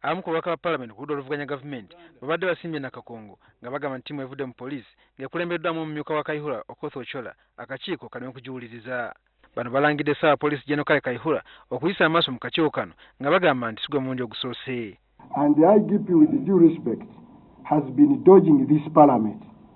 abamu ku babaka ba palamenti ku ludda oluvuganya gavumenti babadde basimbye nakakongo nga bagamba nti ttiimu evudde mu poliisi ng'ekulembeddwamu omumyuka wa kaihura okoth ochola akakiiko kali mu kugiwuliriza bano balangidde saawa poliisi geno kale kaihura okuyisa amaaso mu kakiiko kano nga bagamba nti sigwe mulundi ogusoose and the igp with due respect has been dodging this parliament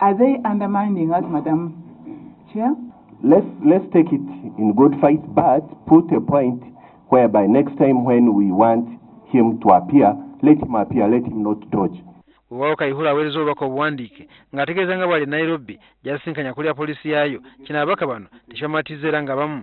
Are they undermining us, Madam Chair? Let's, let's take it in good faith, but put a point whereby next time when we want him to appear, let him appear, let him not dodge. wewaawo kayihura aweereza obubaka obuwandiike ng'ategeeza nga bwali e nairobi gyasisinkanya akulira poliisi yaayo kino ababaka bano tekibamatiza era nga bamu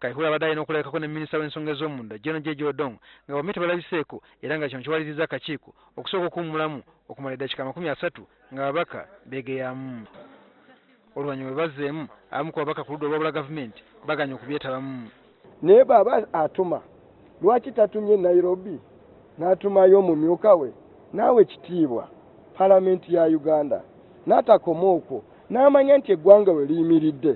Kaihura abadde alina okulabikako ne minisita w'ensonga ez'omunda Gen Jeje Odong nga bombi tebalabiseeko era nga kino kiwalirizza akakiiko okusooka okuwummulamu okumala eddakiika amakumi asatu ng'ababaka beegeyaamu. Oluvannyuma bwe bazzeemu, abamu ku babaka ku ludda olwawula gavumenti bagaanye okubyetabamu. Naye bw'aba atuma lwaki tatumye Nairobi n'atumayo omumyuka we n'awa ekitiibwa Palamenti ya Uganda n'atakoma okwo n'amanya nti eggwanga we liyimiridde?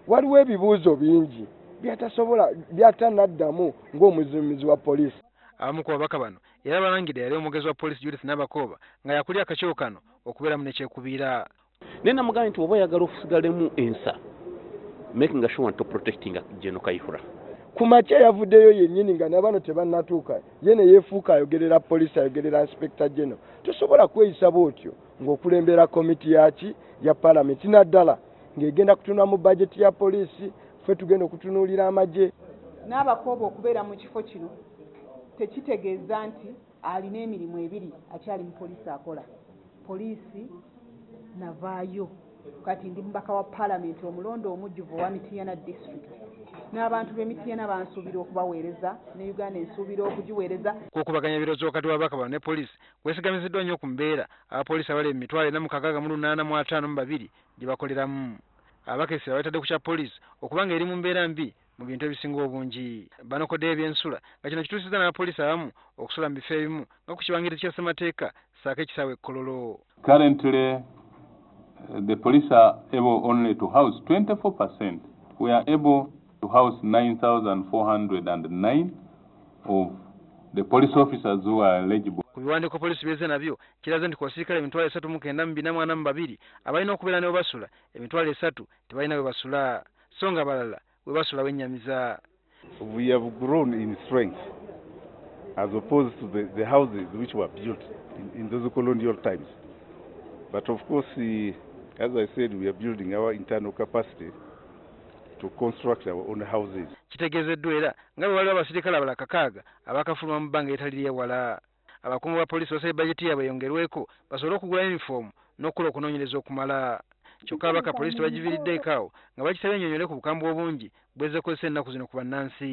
waliwo ebibuuzo bingi byatasobola byatanaddamu ng'omuzimuzi wa poliisi abamu ku babaka bano era balangidde yali omwogezi wa poliisi judith nabakooba nga yakulya akakiiko kano okubeeramu nekyekubiira naye namugambye nti oba oyagala ofusigalemu ensa making a sure nti oprotecting geno kaihura ku makya yavuddeyo yennyini nga nabano tebannatuuka ye ne yeefuuka ayogerera poliisi ayogerera inspekita geno tosobola kweyisa bwotyo ng'okulembera komiti yaki ya palamenti naddala ng'egenda kutunula mu bajeti ya poliisi ffe tugenda okutunuulira amagye n'abakooba okubeera mu kifo kino tekitegeeza nti alina emirimu ebiri akyali mu poliisi akola poliisi navaayo kati ndi mubaka wa paalamenti omulonda omujjuvu owa mitiyana district n'abantu b'emitiyana bansuubira okubaweereza ne uganda ensuubira okugiweereza okukubaganya ebirowoozo wakati w'ababaka bano ne poliisi kwesigamiziddwa nnyo ku mbeera abapoliisi abali emitwalo ena mu kakaaga mu lunaana mu ataano mu babiri gye bakoleramu abakessi abaletadde ku kya poliisi okuba nga eri mu mbeera mbi mu bintu ebisinga obungi banokoddeyo ebyensula nga kino kituusizza n'abapoliisi abamu okusula mu bifo ebimu nga ku kibangirizi kya ssemateeka saako ekisaawe ekkololo currently eh, the police are able only to house 24 percent we are able to house 9409 of the police officers who are eligible ku biwandiiko poliisi byeze nabyo kiraze nti ku basirikale emitwalo esatu mu kenda mu bina mu ana mu babiri abalina okubeera ne webasula emitwalo esatu tebalina webasula so nga balala webasula wenyamiza We have grown in strength as opposed to the, the houses which were built in, in those colonial times. But of course, eh, as I said, we are building our internal capacity to construct our own houses. kitegeezeddwa era nga bwe waliwo abasirikale abala kakaaga abakafuluma mu bbanga eritali lyewala Abakungu ba poliisi basabye bajeti yaabwe eyongerweko basobole okugula yunifoomu n'okukola okunoonyereza okumala. Kyokka ababaka poliisi tebagiviiriddeeko awo nga bagisabye ennyonnyole ku bukambwe obungi bw'ezze ekozesa ennaku zino ku bannansi.